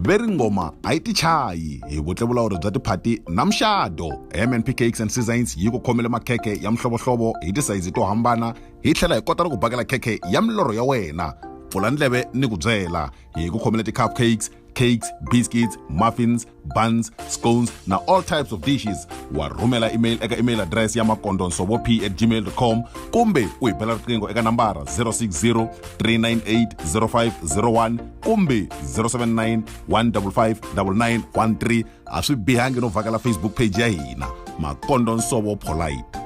ve ri ngoma a yi tichayi hi vutlevulawuri bya tiphati na muxado mnp cakes and seasons yi ku khomele makhekhe ya mihlovohlovo hi tisayizi to hambana hi tlhela hi kota na ku bakela khekhe ya milorho ya wena pfula ndleve ni ku byela hi ku khomele ti-cup cakes cakes biscuits muffins buns scones na all types of dishes wa rhumela email eka email address ya makondonsovo p at gmail com kumbe u hi bela riqingho eka nambara 060 398 0501 kumbe 079 155 9913 a swi bihangi no vhakela facebook page ya hina makondonsovo polite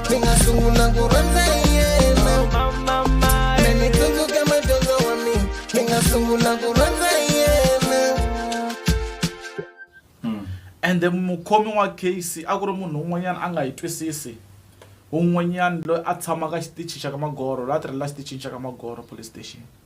ni nga sungula ku rhandza yena me ni tsundzuka madyondzo wa mina ni nga sungula ku rhandza yena hmm. ende mukhomi wa case a ku ri munhu un'wanyana a nga yi twisisi un'wanyana loyi a tshamaka xitichi xa ka magoro loyi a tirhela xitichini xa ka magoro police station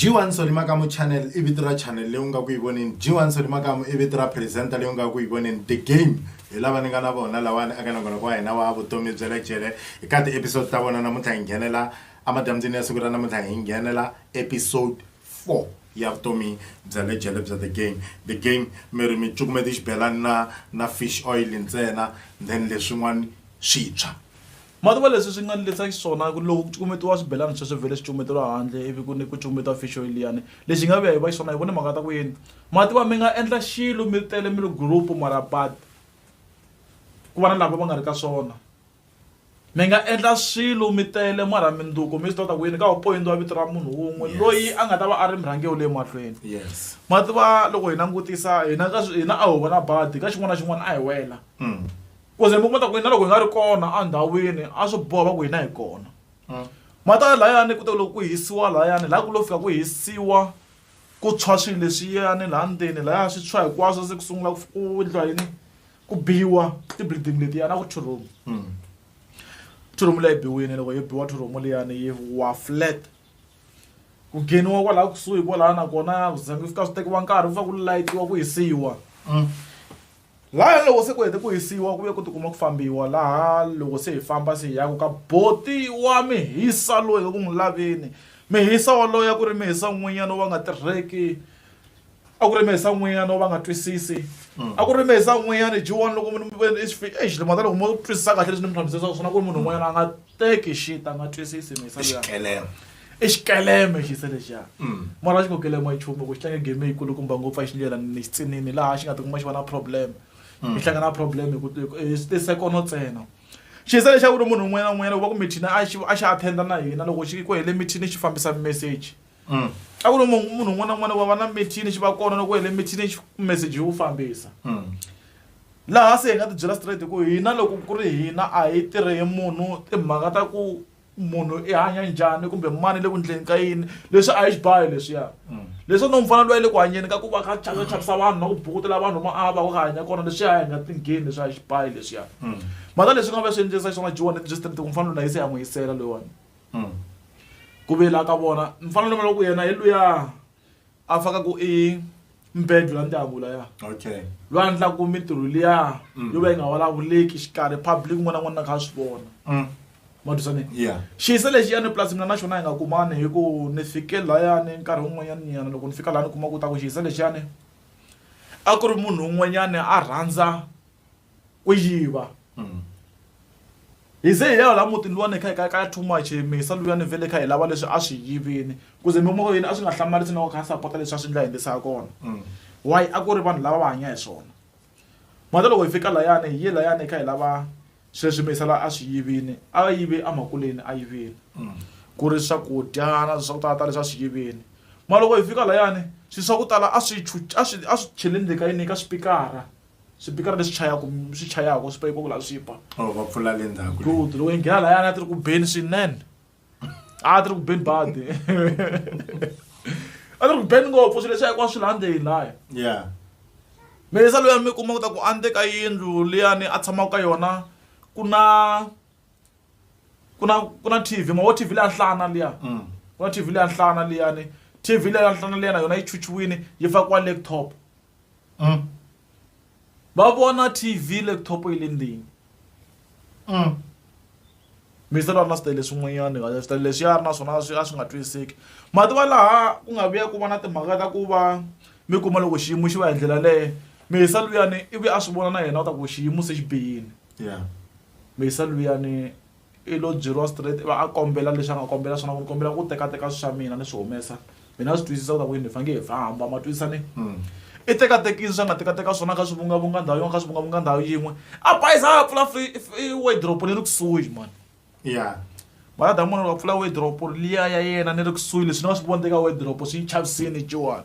G1 Soli Makamu Channel i vito ra channel leyi u nga ku yi voneni G1 Soli Makamu i vito ra presenter leyi u nga ku yi voneni The Game hi lava ni nga na vona lawani aka na ngoloko wa hina wa vutomi bya le jele hi ka ti-episode ta vona namuntlha hi nghenela emadyambyini ya siku ra namuntlha hi nghenela episode 4 ya vutomi bya le jele bya The Game The Game mi ri mi cukumeta xibelani na na fish oil ntsena then leswin'wana swi tshwa Mativa leswi swi nga ni lisa xiswona ku loko ku cukumetiwa swibelani sweswo vhele swi cukumeteliwa handle ivi ku ni ku cukumetiwa fish oil liyani lexi nga vuya hi va xiswona hi vona mhaka ta ku yini mativa mi nga endla xilo mi ri tele mi ri group mara but ku va na lava va nga ri ka swona mi nga endla swilo mi tele mara mindzuku mi swi tiva ta ku yini ka poyintiwa vito ra munhu wun'we loyi a nga ta va a ri murhangeri wa le mahlweni mativa loko hi langutisa hina ka hina a ho va na badi ka xin'wana na xin'wana a hi wela. kuze mi kuma ta ku yini na loko hi nga ri kona endhawini a swi boha va ku hina hi kona hmm. mata layani ku ta loko ku hisiwa layani laha ku lo fika ku hisiwa ku tshwa swilo leswiyani laha ndzeni laya swi tshwa hinkwaswo se ku sungula ku endliwa yini ku biwa ti-building letiyani a ku thuromu hmm. thuromu leyi biwini loko yi biwa thuromu liyani yi wa flat ku ngheniwa kwalaha kusuhi kwalaha nakona ku zange fika swi tekiwa nkarhi ku fa ku layitiwa ku hisiwa hmm. Lahaya loko se ku hete ku hisiwa ku ve ku tikuma ku fambiwa laha loko se hi famba se hi yaku ka boti wa mihisa loyi ka ku n'wi laveni mihisa waloye a ku ri mihisa n'winyana wo va nga tirheki a ku ri mihisa n'winyana wo va nga twisisi a ku ri mihisa n'winyana ji one loko mi ve ni i xi exi mhaka loko mo twisisa kahle leswi ni mi hlamuserisaka swona ku ri munhu un'wanyana a nga teki shit a nga twisisi mihisa liya. i xikeleme xi se lexiya mm. mara a xi ngo kelema nchumu ku xi tlanga game yi kulukumba ngopfu a xi ndlela ni xitsinini laha xi nga tikuma xi va na problem xi mm. hlangana na problem i sekono ntsena xi se lexaku ri munhu un'wana na un'wanyana ku va ku mithini a xi a xi attenda na hina loko xi ku hele mithini xi fambisa message mm. a ku ri munhu un'wana na un'wana wa va na mithini xi va kona loko hele mithini xi message yi wu fambisa laha se hi nga ti byela straight ku hina loko ku ri hina a hi tirhe hi munhu timhaka ta ku munhu i hanya njhani kumbe mani le ku ndleni ka yini leswi a hi xibayo leswiya mm. leswi no mufana loyi le ku hanyeni ka ku va ka chavisa chavisa vanhu na ku bukutela vanhu ma a va ku ka hanya kona leswi a hi nga tingheni leswi a hi xibayo leswiya mm. mata leswi nga va swi endlisa xiswona jiwani byi straight ku mufana loyi na yi se ya n'wi yisela loyiwani mm. ku vela ka vona mufana loyi loko yena hi luya a faka ku i mbedo ya ndyangu laya okay loyi a endlaku mintirho liya mm. yo va yi nga vulavuleki xikarhi public n'wana n'wana na kha a swi vona mm. madusane yeah xiyise lexi ya ni plus mina na xona hi nga kumani hi ku ni fike layani nkarhi wun'wanyana nyana loko ni fika laha ni kuma ku ta ku xiyise lexiyani a ku ri munhu un'wanyana a rhandza ku yiva hi ze hi ya la mutini luwani kha hi ka ka too much hi misa luyani vhele kha hi lava leswi a swi yivini ku ze mimoyeni a swi nga hlamarisi na ku kha sapota leswi a swi ndla hi endlisa kona why a ku ri vanhu lava va hanya hi swona mhaka loko hi fika layani hi ye layani hi kha hi lava swilo leswi misa la a swi yivini a yive emakuleni a yivile ku ri swakudya na swa ku tala tala leswi a swi yivini mara loko hi fika layani swilo swa ku tala a swi a swi a swi chele ndzeni ka yini ka swipikara Swipikara leswi chayaka swi chayaka swi payipoko laha swi ba. Oh, va pfula le ndzhaku. Good. Loko hi nghena lahayana a ti ri ku beni swinene. A ti ri ku beni badi. A ti ri ku beni ngopfu swilo leswi hinkwaswo swi laha ndzeni laya. Yeah. Mesa loyi mi kuma ku ta ku a ka yindlu liyani a tshamaka ka yona ku na ku na ku na TV ma wo TV leya nhlana liya. Mm. Ku na TV leya nhlana liyani. TV leya nhlana liyana yona yi chuchiwini yi fakiwa laptop. mm. va vona tv laptop yi le ndini mm. mi se va na switele swin'wanyana ka switele leswi ya ri na swona swi a swi nga twisiseki mativa laha ku nga vuya ku va na timhaka ta ku va mi kuma loko xiyimo xi va hi ndlela leyo mihisa luyani ivi a swi vona na yena u ta ku xiyimo se xi bihile yeah. mihisa luyani I lo byeriwa straight ivi a kombela leswi a nga kombela swona ku ni kombela ku tekateka swi swa mina ni swi humesa mi na swi twisisa ku ta ku yini hi faneke hi famba ma twisisa ni i tekatekini swi a nga tekateka swona a kha a swi vungavunga ndhawu yin'we a kha a swi vungavunga ndhawu yin'we a bayiza a ya pfula wardrobe ni ri kusuhi mhani ya mara damu munhu loko a pfula wardrobe liya ya yena ni ri kusuhi leswi ni nga swi vona eka wardrobe swi ni chavisini ciwani.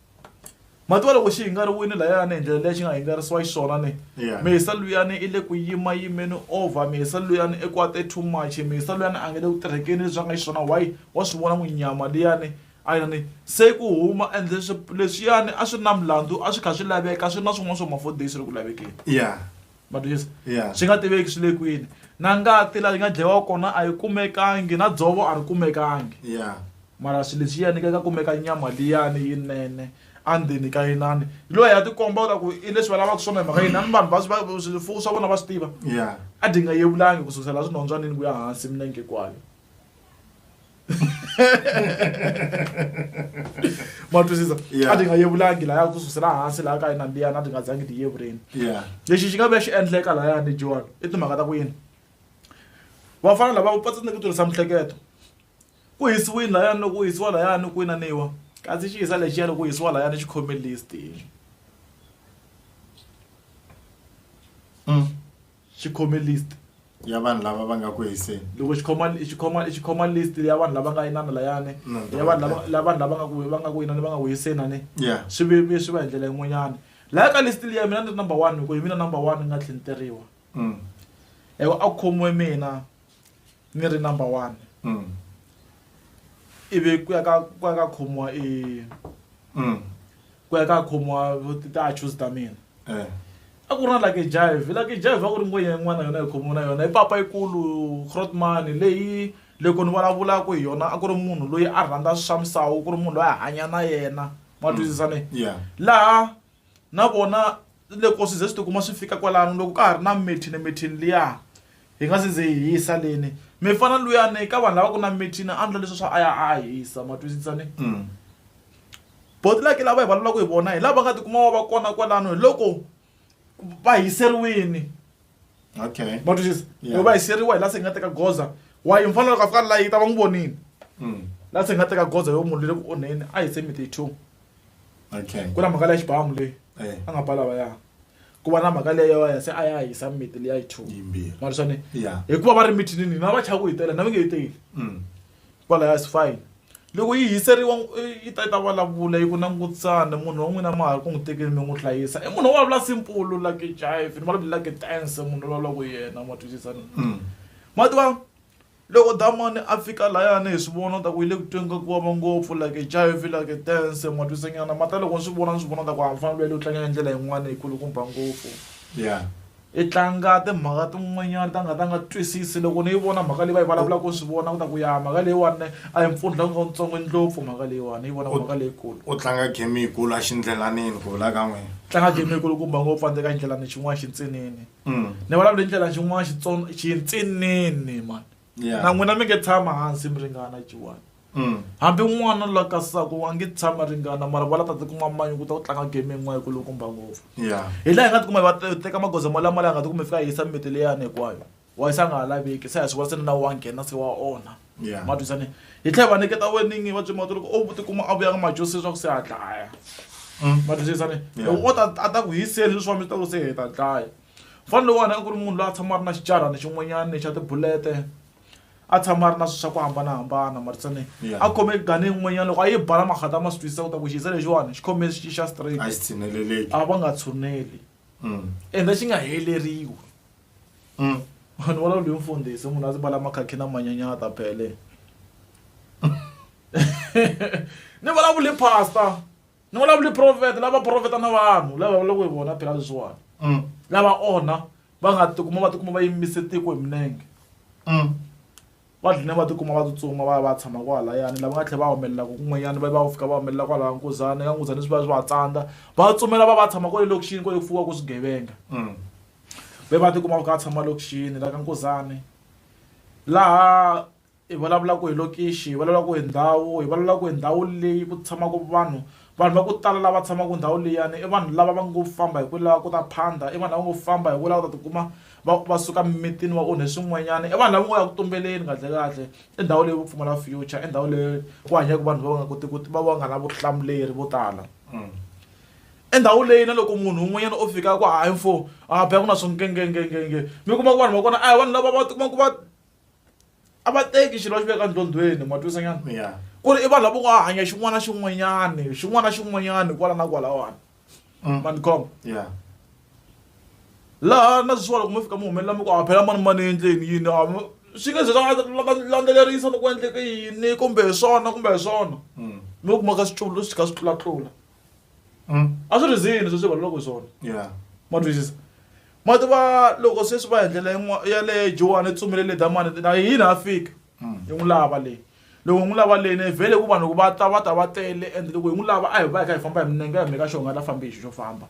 matiwa loko xi hingariwile layani hi ndlela leyi xi nga hingarisiwa xiswona ni yeah. mihisa luyani i le ku yima yimeni over mihisa luyani i kwate too much mihisa luyani a nge le ku tirhekeni leswi a nga xiswona why wa swi vona n'wi nyama liyani a yini se ku huma ende leswiyani a swi na milandzu a swi kha swi laveka swi na swin'wana swa mafodisi ri ku lavekeni yeah matwisa yeah. swi nga tiveki swi le kwini na ngati laha yi nga dlayiwa kona a yi kumekangi na dzovo a ri kumekangi yeah. mara swi lexiyani ka ka kumeka nyama liyani yinene andzeni ka yinani hi loyi ya tikomba ta ku i leswi va lavaka swona hi mhaka yini ni vanhu vaswifuwo swa vona va swi tiva yeah. a dyi nga yevulangi ku sukusela swinhondzwanini ku ya hansi minenge kwayo ma twisisa Yeah. a ti nga yevulangi laya ku susela hansi laya ka yina mbiyana a ti nga zangi ti yevureni yeah lexi xi nga ve xi endleka layani john i timhaka ta ku yini vafana lava va tsandzeke ku tirhisa mihleketo ku hisiwini layani loko ku hisiwa layani ku inaniwa kasi xi hisa lexiya loko ku hisiwa layani xi khome list Mm. Xi khome list ya vanhu lava va nga ku hiseni. Loko xi khoma xi khoma xi khoma list ya vanhu lava nga inana layani ya vanhu lava lava vanhu lava nga ku va nga ku inana va nga ku hiseni a ni swi vevuye swi va hi ndlela yin'wanyana laya ka list liya mina ni ri number one hi ku hi mina number one ni nga tlhinteriwa hi ku a ku khomiwe mina ni ri number one ivi ku ya ka ku ya ka khomiwa . ku ya ka khomiwa ti-achos ta mina eh. a ku ri na lucky jive lucky jive a ku ri ngwenya yin'wana yona yi khomiwe na yona i papa yikulu crotmani leyi loko ni vulavulaka hi yona a ku ri munhu loyi a rhandza swa misawu ku ri munhu loyi a hanya na yena ma mm. twisisane laha na vona loko swi ze swi tikuma swi fika kwalano loko ka ha ri na mithini mithini liya hi nga si ze hi hisa leni mi fana luyani ka vanhu lava ku na mithini a ndla leswi swa a ya a hisa ma twisisane mm. Botlhaka lava hi vulavulaka hi vona hi lava nga tikuma va va kona kwalano hi loko va hiseriwile okay ma twisisa loko va hiseriwa hi la se hi nga teka goza wa yi mfanelo ka fika la yi ta va n'wi vonile hmm. la se hi nga teka goza yo munhu le le ku onheni a hi se mite two okay ku na mhaka leya xibamu leyi eh. a nga ba lava ya ku va na mhaka leyo ya se a ya hisa mite leya yi two ma twisane hikuva va ri mithinini na va chaku hi tele na mi nge yi teli hmm. Kwalaya Siphy, loko yi hiseriwa yi ta yi ta vulavula yi ku langutisa munhu wa n'wina a ma ha ri ku n'wi tekeni mi n'wi hlayisa i munhu wo vulavula simple like jive ni vulavula like tense munhu loyi vulavulaka hi yena ma twisisa ma tiva loko damani a fika layani hi swi vona u ta ku yi le ku tweni ka ku vava ngopfu like jive like tense ma twisa nyana ma ta loko ni swi vona ni swi vona ni ta ku a ni fanele u tlanga hi ndlela yin'wani hi ku loko ni ba ngopfu ya. I tlanga timhaka tin'wanyana ta nga ta nga twisisi loko ni yi vona mhaka leyi va yi vulavulaka ku swi vona ku ta ku ya mhaka leyiwani a hi mpfundla wu ntsongo ndlopfu mhaka leyiwani ni yi vona mhaka leyikulu u tlanga game yikulu exindlelanini ku vula ka n'wina tlanga game yikulu kumba ngopfu andzeka ndlela ni xin'wana xintsinini mm. ni vulavula hi ndlela xin'wana xintsinini mani Yeah. na n'wina mi nge tshama hansi mi ringana jiwani Mm. hambi n'wana la kasako wa nge tshama ringana mara va la ta tikuma manyu ku ta ku tlanga game yin'wana ku lokumba ngopfu Yeah. hi laha hi nga tikuma hi va te- teka magoza mo lama laha hi nga tikuma hi fika hi yisa mimiti leyani hinkwayo wa yisa a nga ha laveki se hi swi vona se ni na wa nghena se wa onha Yeah. ma twisane hi tlhela hi va nyiketa weningi va byemata loko o tikuma a vuyanga majosi leswaku se a dlaya Mm. ma twisisane Yeah. loko o ta a ta ku hi seli leswi wa mi ta ku se hi ta dlaya mfana lowuwani a ku ri munhu loyi a tshama a ri na xicarani xin'wanyani xa tibulete a tshama a ri na swi swa ku hambanahambana marisane a khome gane yin'wanyana loko a yi bala makhata ma swi twisisa ku ta ku xize lexiwani xi khome xi xa straight a va nga tshuneli mm. ende xi nga heleriwi mm. vanhu va lawuliwe mfundhisi munhu a ndzi bala makhakhi na manyanyata phele ni vulavule pastor ni vulavuli profeta lava profeta na vanhu lava vulavulaka hi vona phela leswiwani mm. lava onha va nga tikuma va tikuma va yimise tiko hi minenge mm. va dlina va tikuma va tsutsuma va ya va tshama kwahalayani lava nga tlhela va humelelaka kun'wanyana va va fika va humelela kwalaha nkuzana ka nkuzana swi va swi va tsandza va tsumela va va tshama kwale lokixini kwale ku fuwaka swigevenga mm. va va tikuma va kha va tshama lokixini la ka nkuzane laha Hi vulavula ku hi lokixi, hi vulavula ku hi ndhawu, hi vulavula ku hi ndhawu leyi ku tshamaka vanhu. Vanhu va ku tala lava tshamaka ndhawu liyani i vanhu lava va ngo famba hi ku lava ku ta phanda, i vanhu lava ngo famba hi ku lava ku ta tikuma va va suka mimitini va onhe swin'wanyana, i vanhu lava ngo ya ku tumbeleni kahlekahle. I ndhawu leyi yo pfumala future, i ndhawu leyi ku hanyaka vanhu va va nga kotiki ku va va nga na vutihlamuleri vo tala. I ndhawu leyi na loko munhu un'wanyana o fika a ku hayi mfo a ba ku na swo ngengengenge mi kuma ku vanhu va kona a hi vanhu lava va tikumaka va. a va teki xilo va xi veka ndlondhweni ma twisa nyana yeah. ku ri i vanhu lavo va hanya xin'wana na xin'wanyani xin'wana na xin'wanyani kwala na kwalawani mm. manikhoma yeah. laha na sweswiwa loko mi fika mi humelela mi ku a phela mani mani endleni yini swi nge ze landzelerisa loko endleke yini kumbe hi swona kumbe hi swona mm. mi kumaka swiculo swi kha swi tlulatlula a swi ri zini leswi swi vulavulaka hi swona yeah ma twisisa ma tiva loko sweswi va endlela yin'wa- ya le jowani tsumile le damani na yini a fika yi n'wi lava leyi loko hi n'wi lava leyi ne vhele ku vanhu va ta va ta va tele and loko hi n'wi lava a hi va hi kha hi famba hi minenge hi meka xonga la fambi hi xi xo famba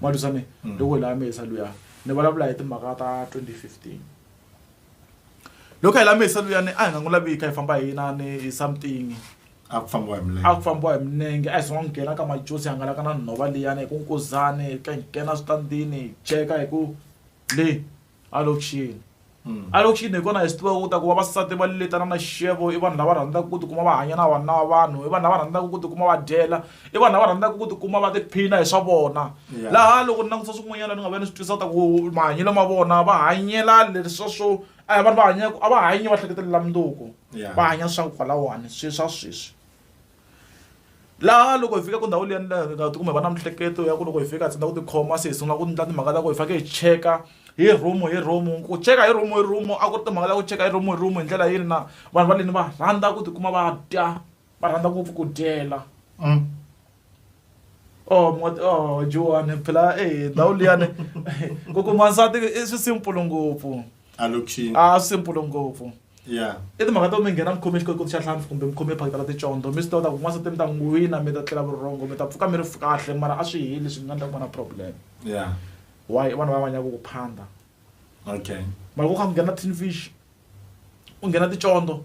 ma twisani loko hi lava mesa luya ni vulavula hi timhaka ta 2015 loko hi la mesa luyani a hi nga n'wi lavika hi famba hi inani hi something a ku fambiwa hi milenge a ku fambiwa hi milenge a hi zanga nghena ka majosi hangalaka na nhova liyani hi ku nkuzani ka nghena switandini hi cheka hi ku le a lokixini hmm. a lokixini hi kona hi swi tiva ku ta ku vavasati va letana na xixevo i vanhu lava rhandzaka ku tikuma va hanya na vanhu na vanhu i vanhu lava rhandzaka ku tikuma va dyela i vanhu lava rhandzaka ku tikuma va tiphina hi swa vona laha loko ni langutisa swin'wanyana ni nga va ni swi twisisa ta ku mahanyelo ma vona va hanyela leswa swo a hi vanhu va hanyaka a va hanyi va hleketelela mundzuku va hanya swa kwalawani swi swa sweswi laha loko hi fika ku ndhawu liya nga tikuma hi va na mihleketo ya ku loko hi fika hi tsandza ku tikhoma se hi sungula ku endla timhaka ta ku hi fanekele hi cheka hi room hi room ku cheka hi room hi room a ku ri timhaka ta ku cheka hi room hi room hi ndlela yini na vanhu va le ni va rhandza ku tikuma va dya. va rhandza ngopfu ku dyela mm. oh moti oh Johan phela eh ndhawu liyani ku kuma nsati i swi simple ngopfu a lokixini a swi simple ngopfu yeah i timhaka to mi nghena mi khome xikotikoti xa hlampfi kumbe mi khome phakita la ticondzo mi swi tiva ta ku n'wansati mi ta n'wi wina mi ta tlela vurhongo mi ta pfuka mi ri kahle mara a swi heli swi nga endla ku va na problem yeah why vanhu va vanyaku ku phanda okay mara ku kha ku nghena tin fish u nghena ticondzo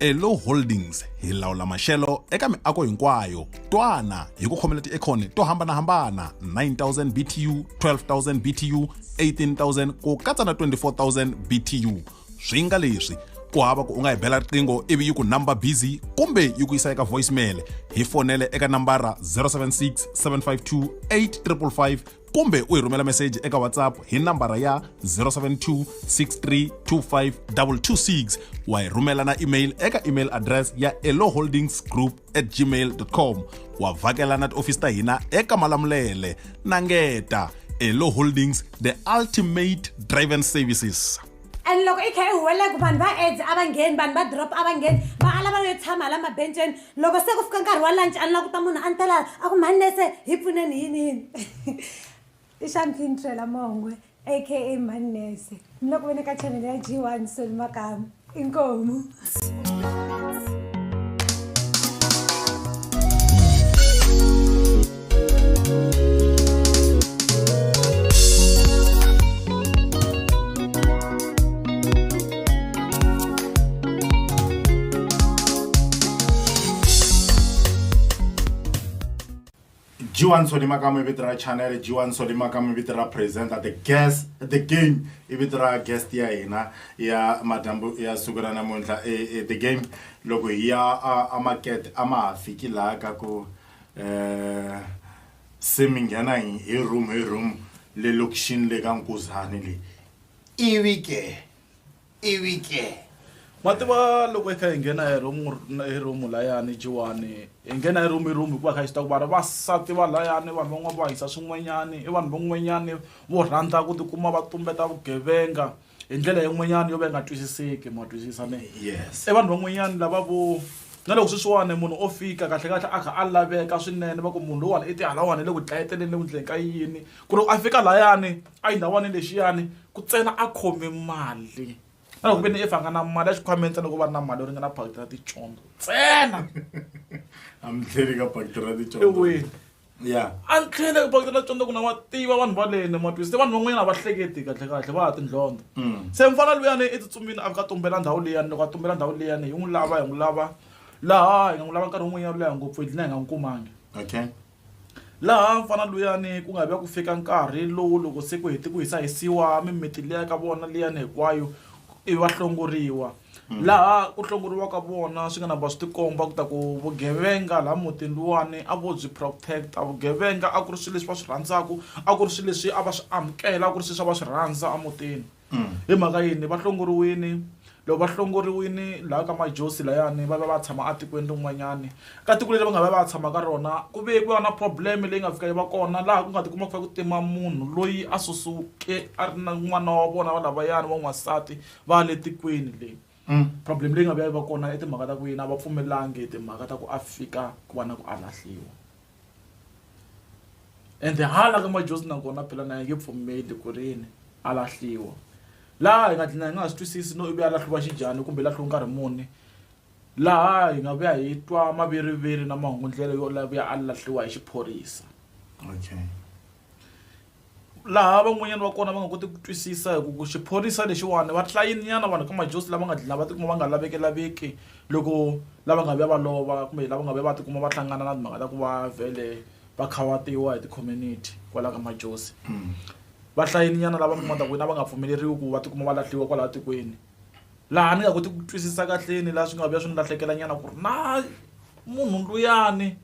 elo holdings hi lawula maxelo eka miako hinkwayo twana hi ku khomela tiekhoni to hambanahambana 9000 btu 12000 btu 18000 ku katsa na 24000 btu swi nga leswi ku hava ku u nga hi bela riqingho ivi yi ku number busy kumbe yi ku yisa eka voicemail hi fonele eka nambara 076 752 855 kumbe u hi rhumela meseji eka whatsapp hi nambara ya 072 6325226 wa hi rhumela na email eka email address ya eloholdings group at gmail com wa vhakela na tiofisi ta hina eka malamulele na ngeta elo holdings the ultimate driven services and loko i kha i huweleke vanhu va aids a va ngheni vanhu va drop a va ngheni va ala va yo tshama hala mabenceni loko se ku fika nkarhi wa lunch a ni la kuta munhu a ni tela a ku mhani nese hi pfuneni yini yini i champagne trela mongwe aka mhani nese ni le ku veni ka channel ya g one soli makamu inkomu Jiwan Solima ka mi vito ra channel Jiwan Solima ka mi vito ra presenter the guest the game i vito ra guest ya hina ya madyambu ya siku ra namuntlha e, e, the game loko hi ya a market a ma ha fiki laha ka ku um se mi nghena hi room hi room le lokixini le ka nkuzani leyi ivi ke ivi ke ma tiva loko hi kha hi nghena hi room hi room layani jiwani hi nghena hi room hi room hikuva kha hi swi ta ku vana vasati va layani vanhu van'wana va hisa swin'wanyani i vanhu van'wanyani vo rhandza ku tikuma va tumbeta vugevenga hi ndlela yin'wanyana yo va yi nga twisiseki ma twisisa me yes i vanhu van'wanyana lava vo na loko sweswiwani munhu o fika kahlekahle a kha a laveka swinene va ku munhu lowani i tihalawani le ku dlayeteleni le ku ndleni ka yini ku ri a fika layani a yi ndhawani lexiyani ku tsena a khome mali na loko ve ni i fa nga na mali ya xikhwameni ntsena loko va ri na mali yo ringana phakiti ra ticondzo ntsena a mi tlheli ka pakiti ra ticondzo eweni ya a ni tlhele ku pakitela tsonda ku na wa tiva vanhu va lene matwisi se vanhu van'wanyana a va hleketi kahlekahle va ha tindlondlo mm. se mfana luyani i tsutsumile a fika tumbela ndhawu liyani loko a tumbela ndhawu liyani hi n'wi lava hi n'wi lava laha hi nga n'wi lava nkarhi wun'wanyana leha ngopfu hi dlina hi nga n'wi kumangi okay laha mfana luyani ku nga vi ya ku fika nkarhi lowu loko se ku heti ku hisa hisiwa mimiti liya ka vona liyani hinkwayo ivi va hlongoriwa mm. laha ku hlongoriwaka vona swi nga na ba swi tikomba ku ta ku vugevenga laha mutini luwani a vo byi protect-a vugevenga a ku ri swilo leswi va swi rhandzaka a ku ri swilo leswi a va swi amukela a ku ri swilo swa va swi rhandza emutini mm. hi mhaka yini va hlongoriwini loko va hlongoriwini laha ka majosi layani va va va tshama etikweni rin'wanyani ka tiko leri va nga va va tshama ka rona ku ve ku va na problem leyi nga fika yi va kona laha ku nga ti kuma ku fa ku tima munhu loyi a susuke a ri na n'wana wa vona va lavayani wa n'wansati va le tikweni le problem leyi nga vuya yi va kona i timhaka ta ku yini a va pfumelangi timhaka ta ku a fika ku va na ku a lahliwa ende hala ka majosi nakona phela na yi nge pfumeli ku ri yini a lahliwa laha hi nga dlina hi nga ha swi twisisi no ivi a lahliwa xinjhani kumbe lahliwa nkarhi muni laha hi nga vuya hi twa maviriviri na mahungu ndlela yo lavuya a lahliwa hi xiphorisa okay laha van'wanyana va kona va nga koti ku twisisa hi ku ku xiphorisa lexiwani va tlilayini nyana vanhu ka majozi lava nga dlina va tikuma va nga laveki laveki loko lava nga vuya va lova kumbe lava nga vuya va tikuma va hlangana na timhaka ta ku va vhele va khawatiwa hi ti-community kwala ka majozi va hlayini nyana lava kumaka ku na va nga pfumeleriwi ku va tikuma va lahliwa kwala tikweni laha ni nga koti ku twisisa kahleni laha swi nga vuya swi ni lahlekela nyana ku ri na munhu luyani.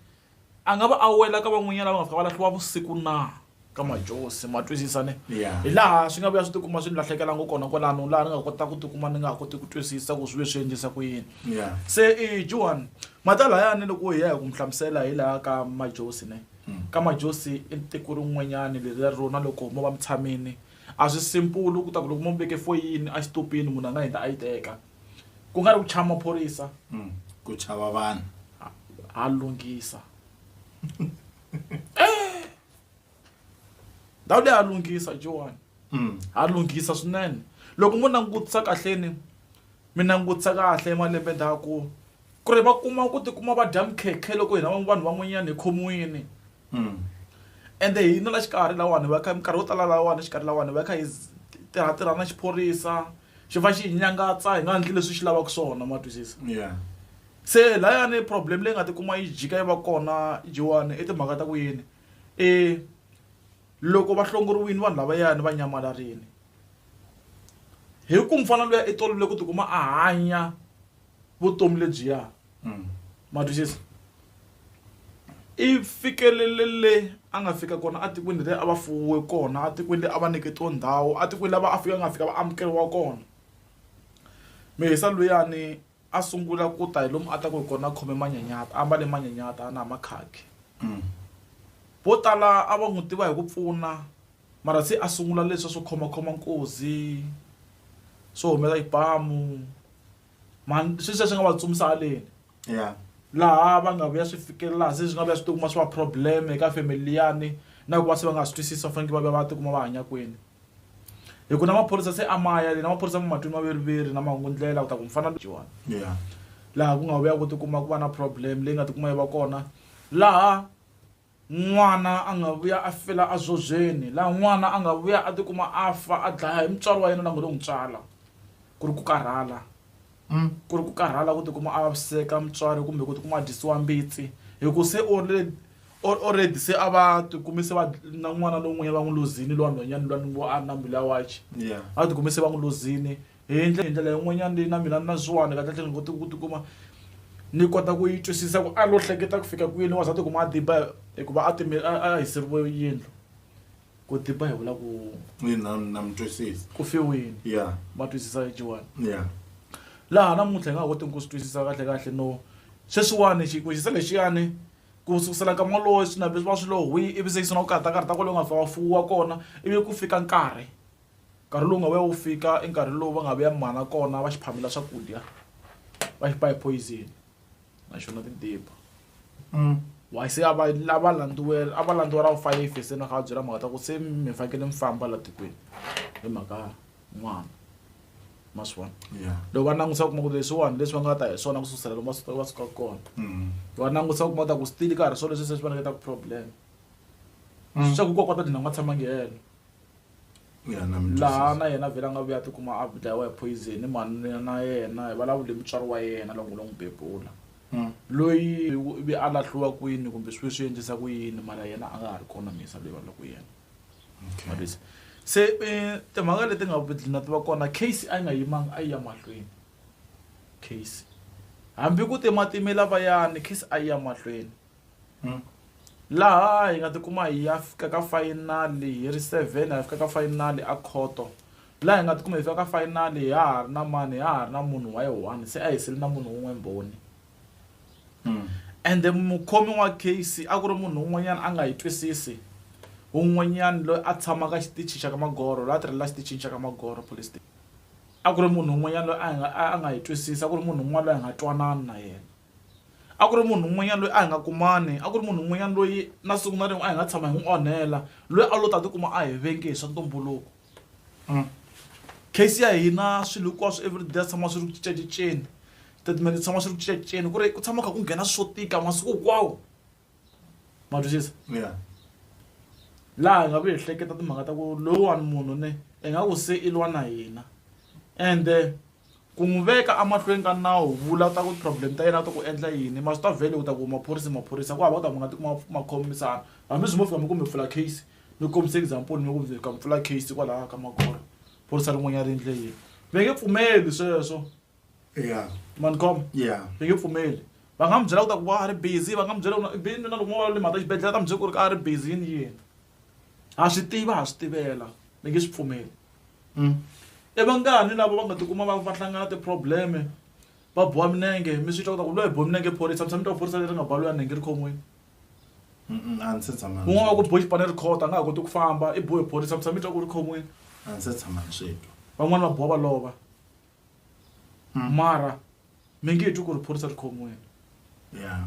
a nga va a wela ka van'wanyana lava nga fika va lahliwa vusiku na ka majosi ma twisisa ne hi laha swi nga vuya swi tikuma swi ni lahlekelanga kona kwalano laha ni nga kota ku tikuma ni nga ha koti ku twisisa ku swi ve swi endlisa ku yini se i johan mati alayani loko hi ya hi ku mi hlamusela hi laha ka majosi ne ka majosi i tiko rin'wanyani leriya rona loko mo va mi tshamini a swi simple ku ta ku loko mo mi veke foyini a xitupini munhu a nga hindza a yi teka. ku nga ri ku chava maphorisa mm. ku chava vanhu ha lunghisa eh! ndhawu leyi ha lunghisa joani mm. ha lunghisa swinene loko mo langutisa kahleni mi langutisa kahle malembe ndhaku Ku ri va kuma ku tikuma va dya mikhekhe loko hina vanhu van'wanyana hi khomiwile ende hina la xikarhi lahawani hi va kha minkarhi yo tala lahawani exikarhi lahawani hi va kha hi tirha tirha na xiphorisa xi va xi hi nyangatsa hi nga endli leswi swi lavaka swona ma twisisa se layani problem leyi nga ti kuma yi jika yi va kona dyiwani i timhaka ta ku yini i loko va hlongoriwile vanhu lavayani va nyamalarile hi ku mufana luya i tolovele ku tikuma a hanya vutomi lebyiya ma twisisa i fikelele le a nga fika kona atikweni leri a va fuwe kona atikweni leri a va nyiketiwa ndhawu atikweni lava a fika a nga fika va amukeriwa kona mihisa luyani a sungula ku ta hi lomu a ta ku hi kona a khome manyanyata a mbale manyanyata na hi makhakhi vo tala a va n'wi tiva hi ku pfuna Mara se a sungula leswa swo khomakhoma nkozi, swo humela xibamu. Mhani i swilo leswi a swi nga va tsumisa haleni. Ya. Laha va nga vuya swi fikela laha se swi nga vuya swi ti kuma swi va problem eka family liyani, na ku va se va nga ha swi twisisi va fanekele va vuya va ti kuma va hanya kwini. Hi ku na maphorisa se a ma ya le, na maphorisa ma ma twini maviriviri na mahungundlela ku ta ku mufana loyiwani. Ya. Laha ku nga vuya ku ti kuma ku va na problem leyi nga ti kuma yi va kona laha. N'wana a nga vuya a fela azobyeni, laha n'wana a nga vuya a tikuma a fa a dlaya hi mutswari wa yena la ngo lo n'wi tswala. Ku ri ku karhala. Ku ri ku karhala ku tikuma a vaviseka mutswari kumbe ku tikuma a dyisiwa mbitsi hi ku se already se a va tikumi se va na n'wana lowun'wanyana va n'wi luzini luwa nhwanyana luwa ni ngo a ri na mbilu ya wachi. Va tikumi se va n'wi luzini Hi ndlela yin'wanyana leyi na mina na Zwane kahlekahle ni kote ku tikuma ni kota ku yi twisisa ku a lo hleketa ku fika kwini wansati ku ma a tiba hikuva a time a a hiseriwe yindlu ku tiba hi vula ku Ina na mi twisisa ku fiwini ya ma twisisa Joan ya laha namuntlha hi nga ha kotiki ku swi twisisa kahlekahle no sweswiwani xi ku xiza lexiyani ku sukusela nkama wolowo swi na leswi va swi lo hwii ivi se yi sungula ku karhata karhata kwale u nga fa wa fuwa kona ivi ku fika nkarhi Nkarhi lowu nga vuya wu fika i nkarhi lowu va nga vuya mimana kona va xi phamela swakudya va xi ba hi poison naxona ti dibha why se a va lava landziwela a va landziwa ra vufayifi se ni nga va byela mhaka ta ku se mi fanekele mi famba laha tikweni hi mhaka n'wana ma swi vona loko va langusa u kuma ku leswiwani leswi va nga ta hi swona ku sukusela loko va suka va suka kona va langusa u kuma ta ku still ka ha ri swona leswi se swi va nyiketa problem swa ku kokwa ta dlina ku nga tshamangi helo. ya na mi laha na yena vhela a nga vuya a tikuma a dlayiwa hi poison manuna na yena hi vulavule mutswari wa yena loko lo n'wi bebula Hmm. loyi u ve a lahliwa kwini kumbe swi ve swi endlisa ku yini mara yena a nga ha ri kona misa leyi va loko yena okay Mavisa. se um timhaka leti nga dlina ti va kona case a yi nga yimanga a yi ya mahlweni case hambi ku timatimela vayani case a yi ya mahlweni laha hi nga tikuma hi ya fika ka final hi ri seven hi ya fika ka final a khoto laha hi nga tikuma hi fika ka final ha ha ri na mani ha ha ri na munhu wa yi one se a hi sele na munhu un'we mbhoni ende mukhomi wa case a ku ri munhu un'wanyana a nga yi twisisi un'wanyana loyi a tshamaka xitichi xa ka magoro loyi a tirhela xitichini xa ka magoro police station a ku ri munhu un'wanyana loyi a nga a nga yi twisisa ku ri munhu un'wana loyi a nga twanana na yena. a ku ri munhu un'wanyana loyi a hi nga kumani a ku ri munhu un'wanyana loyi na siku na rin'we a hi nga tshama hi n'wi onhela loyi a lo ta tikuma a hi venge hi swa ntumbuluko case ya hina swilo hinkwaswo everyday swi tshama swi ri ku cincacinceni statement swi tshama swi ri ku cincacinceni ku ri ku tshama kha ku nghena swo tika masiku hinkwawo. ma twisisa yeah laha hi nga ku ehleketa timhaka ta ku lowuwani munhu ne i nga ku se i lwa na hina ende ku n'wi veka emahlweni ka nawu vula ta ku problem ta yena ta ku endla yini ma swi ta vhele u ta ku maphorisa maphorisa ku hava u ta ku nga ti kuma ma khomisana hambi swi mo fika mi kumbe pfula case mi kombisa example mi ku fika mi pfula case kwalaha ka magoro phorisa rin'wanyana ri endle yini va nge pfumeli sweswo yeah man kom yeah ni nge pfumeli va nga mi byela ku ta ku va a ri busy va nga mi byela vini na loko mo va le mhaka xibedhlele ta mi byela ku ri ka a ri busy yini yini ha swi tiva ha swi tivela ni nge swi pfumeli mm. i vangani lava va nga tikuma va va hlangana ti-probleme va boha minenge mi swi twa ku ta ku loyi hi boha minenge phorisa mi tshami twa phorisa leri nga ba loyi a nenge ri khomiwini un'wana wa ku bohi xipane ri khota a nga ha koti ku famba i bohe phorisa mi tshami twa ku ri khomiwini van'wana va boha va lova Mm. mara mi nge twi ku ri phorisa ri khomiwile Yeah.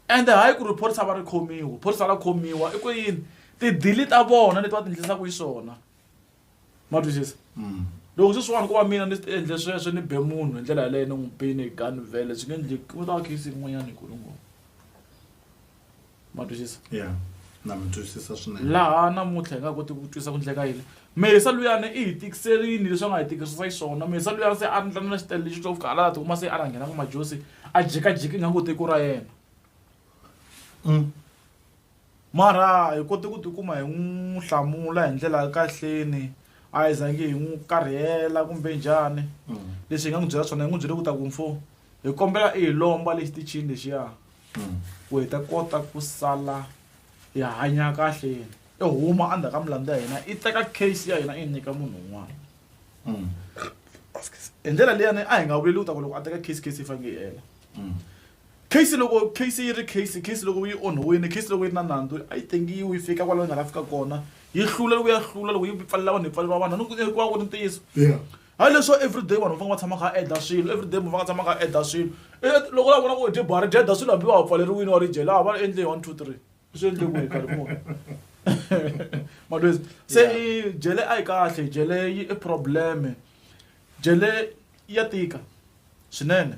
ende hayi ku ri phorisa va ri khomiwa phorisa ra khomiwa i ku yini tidili ta vona leti va ti endlisaka xiswona ma twisisa Mm. loko sweswiwani ko va mina ni endle sweswo ni be munhu hi ndlela yaleyo ni n'wi bini hi gun vele swi nge endleki ku ta va case yin'wanyana hi ku ri ngopfu ma twisisa yeah na mi twisisa swinene laha namuntlha hi nga koti ku twisisa ku ndleka yini mesa luyani i hi tikiserini leswi a nga hi tikisisa xiswona mesa luyani se a ndla na xitele lexi xo fika hala la tikuma se a rhanghena ku majosi a jekajeki nga ngo tiko ra yena mm. mara hi kote ku tikuma hi n'wi hlamula hi ndlela ya kahleni a hi zangi hi n'wi karhela kumbe njhani mm. leswi hi nga n'wi byela swona hi n'wi byele ku ta ku mfo hi kombela i hi lomba lexitichini lexiya ku hi ta kota ku sala hi hanya kahle yini i huma endzhaku ka milandzu ya hina i teka case ya hina i yi nyika munhu un'wana mm. hi ndlela leyani a hi nga vuleli ku ta ku loko a teka case case yi fanele yi hela mm. case loko case yi ri case case loko yi onhiwile case loko yi ri na nandzu a yi tengiwi yi fika kwalaho yi nga la fika kona yi hlula loko ya hlula loko yi pfalela vanhu yi pfalela vanhu ni ku ku va ku ri ntiyiso hayi leswo everyday vanhu va fanele va tshama kha a endla swilo everyday munhu va nga tshama kha a endla swilo loko la vona ku dye bari dyeda swilo hambi va ha pfaleriwile wa ri dye laha va endle one two three swi endle ku hi karhi munhu malwezi se i jele a yi kahle jele yi i probleme jele ya tika swinene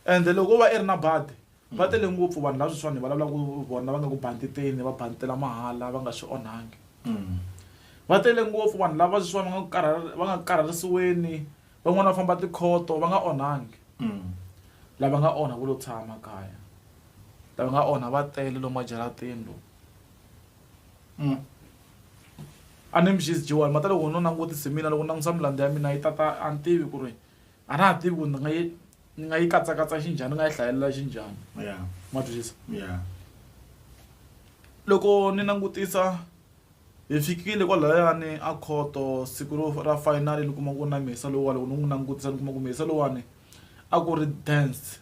ende loko va i ri na badi Va tele ngopfu vanhu lava sweswiwani hi vulavulaka ku vona va nga ku bantiteni va bantitela mahala va nga swi onhangi. Va tele ngopfu vanhu lava sweswiwani va nga ku karhala va nga ku karharisiweni van'wana va famba tikhoto va nga onhangi. Lava nga onha vo lo tshama kaya lava nga onha va tele lomu majarateni lomu. A ni mi xisi Joni mara loko no langutisa hi mina loko ni langutisa milandzu ya mina yi tata a ni tivi ku ri a na ha tivi ku ni nga yi ni nga yi katsakatsa xinjhani ni nga yi hlayelela xinjhani ma twisisa loko ni langutisa hi fikile kwalayani a khoto siku ro ra final ni kuma ku na mhisa lowuwa loko ni n'wi langutisa ni kuma ku mhisa lowuwani a ku ri dance.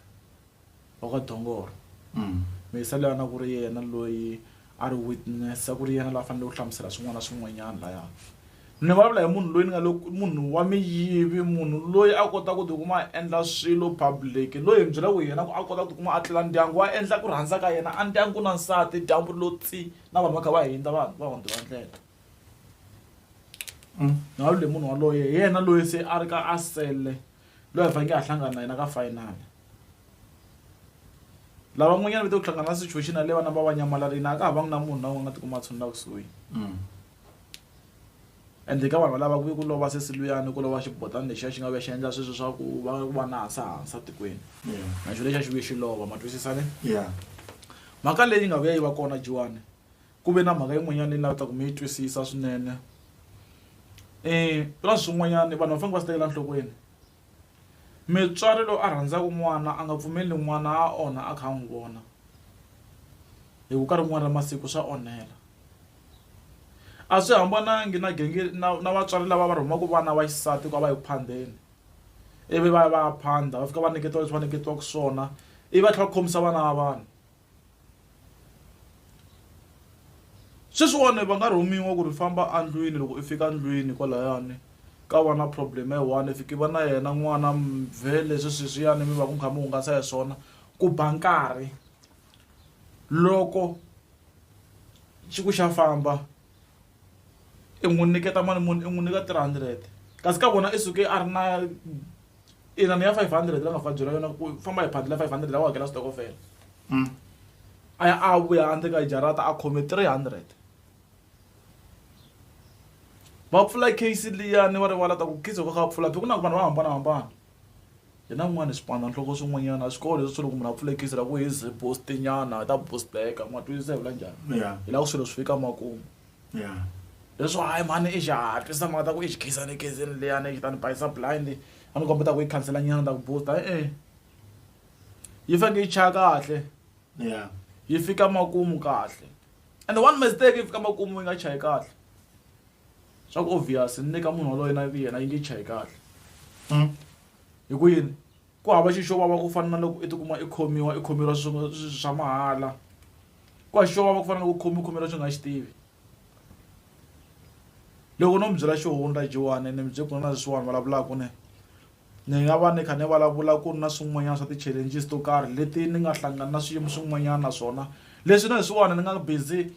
wa ka dongoro mesa loyi a na ku ri yena loyi a ri witness a ku ri yena la fanele ku hlamusela swin'wana na swin'wanyana laya ni vulavula hi munhu loyi ni nga loko munhu wa miyivi munhu loyi a kota ku tikuma a endla swilo public loyi hi byela ku yena ku a kota ku tikuma a tlela ndyangu wa endla ku rhandza ka yena a ndyangu na nsati dyambu lo tsi na vanhu va kha va hindza vanhu va hundzi va ndlela ni vulavula hi munhu waloye hi yena loyi se a ri ka a sele. loyi a faneke a hlangana na yena ka final lava n'wanyana va te ku hlangana na situation yaleyo vana va va nyamalarini a ka ha vangi na munhu na un'we a nga tikuma a tshunula kusuhi mm. ende ka vanhu valava ku ve ku lova se siluyani ku lova xibotani lexiya xi nga ve xi endla sweswo swa ku va ku va na hansa hansa tikweni na xo lexiya xi vuye xi lova ma twisisane mhaka leyi nga vuya yi va kona jiwani Ku ve na mhaka yin'wanyana leyi ni navetaka mi yi twisisa swinene ka swin'wanyana vanhu va fanele va swi tekela enhlokweni mutswari loyi a rhandzaka n'wana a nga pfumeli n'wana a onha a kha a n'wi vona hi ku ka rin'wana ra masiku swa onhela a swi hambanangi na na na vatswari lava va rhumaka vana va xisati ku va yi ku phandeni ivi va ya va ya phanda va fika va nyiketa leswi va nyiketiwaka swona ivi va tlhela va khomisa vana va vanhu. Sweswiwani va nga rhumiwa ku ri famba a ndlwini loko i fika ndlwini kwalayani ka va na problem yi one if ki va na yena n'wana mvhele swi sweswiyani mi va ku mi kha mi hungasa hi swona ku ba nkarhi loko xi ku xa famba. i n'wi nyiketa mali muni i n'wi nyika three hundred kasi ka vona i suke a ri na inani ya five hundred la nga fa byela yona ku famba hi phandle la five hundred la u hakela switokofela a ya a vuya a ndleka jarata a khome three hundred va pfula case liyani va rivala ta ku khizo ka kha pfula phi ku na ku vanhu va hambanahambana Hi na n'wana xipano nhloko swin'wanyana swikolo leswi swi loko munhu a pfule case ra ku hi ze boost nyana hi ta boost back ma twisisa hi vula njhani hi lava ku swilo swi fika makumu leswo hayi mhani i xihatla i samba nga ta ku i xi khensani khensani liyani i ta ni bayisa blind a ni kombeta ku yi khansela nyana ni ta ku boost e-e yi faneke yi chaya kahle yi fika makumu kahle and one mistake yi fika makumu yi nga chayi kahle. swa ku obvious ni le ka munhu waloye na yena yi nge chayi kahle hi ku yini ku hava xi xo vava ku fana na loko i tikuma i khomiwa i khomeriwa swilo swa mahala ku hava xi xo vava ku fana na loko u khomiwa u khomeriwa leswi u nga xi tivi loko no mi byela xo hundza Joni ni mi bye ku na na leswiwani vulavulaku ne ni nga va ni kha ni vulavula ku ri na swin'wanyana swa ti-challenges to karhi leti ni nga hlangana na swiyimo swin'wanyana na swona leswi na leswiwani ni nga busy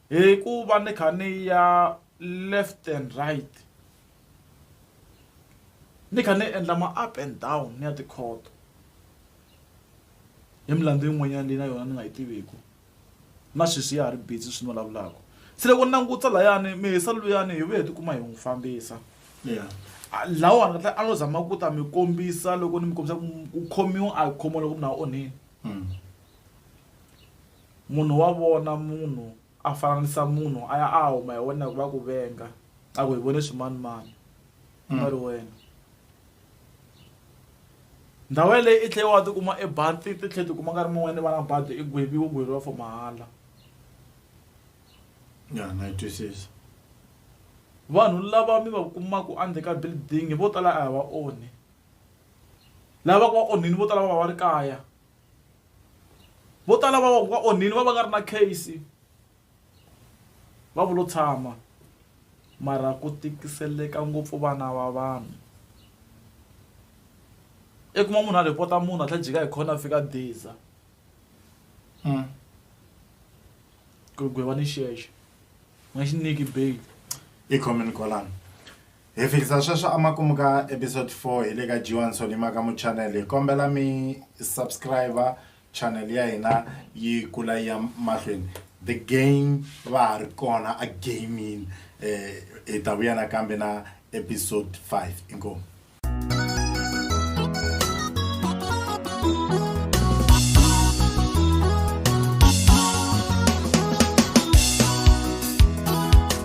Hi ku va ni kha ni ya left and right ni kha ni endla ma up and down ni ya tikhoto hi milandzu yin'wanyana leyi na yona ni nga yi tiviku na sweswi ya ha ri busy swi ni vulavulaka se loko ni langutisa layani mehe se luyani hi vuye hi tikuma hi n'wi fambisa lahawani kahle a no zama ku ta mi kombisa loko ni mi kombisa ku ku khomiwa a hi khomiwa loko munhu a onhile. Munhu wa vona munhu, a fananisa munhu, a ya a ya huma hi wena hikuva a ku venga, a ku, Hi vone swimanimani, ku nga ri wena. Ndhawu yaleyo i tlhele wa ti kuma i ba, ti tlhela ti kuma nkarhi mun'wanyana i va na badi, i gweviwa, u gweriwa for mahala. Ya, na yi twisisa. Vanhu lava mi va kumaka endzeni ka building vo tala a hi va onhi. Lava va ku va onhile vo tala va va va ri kaya. vo tala va va onhile va va nga ri na case va vulo tshama mara ku tikiseleka ngopfu vana va vanhu i kuma munhu a report-a munhu a tlhe jika hi khona a fika diza mm. ku gwevanixexe nga xi nyiki bail i khomeni kwalano Hi fikisa sweswo amakumu ka episode 4 hi le ka G1 Solimaka mu channel hi kombela mi subscriber channel ya hina yi kula yi ya mahlweni the game va ha ri kona a gaming eh hi ta vuya nakambe na episode 5 inkomu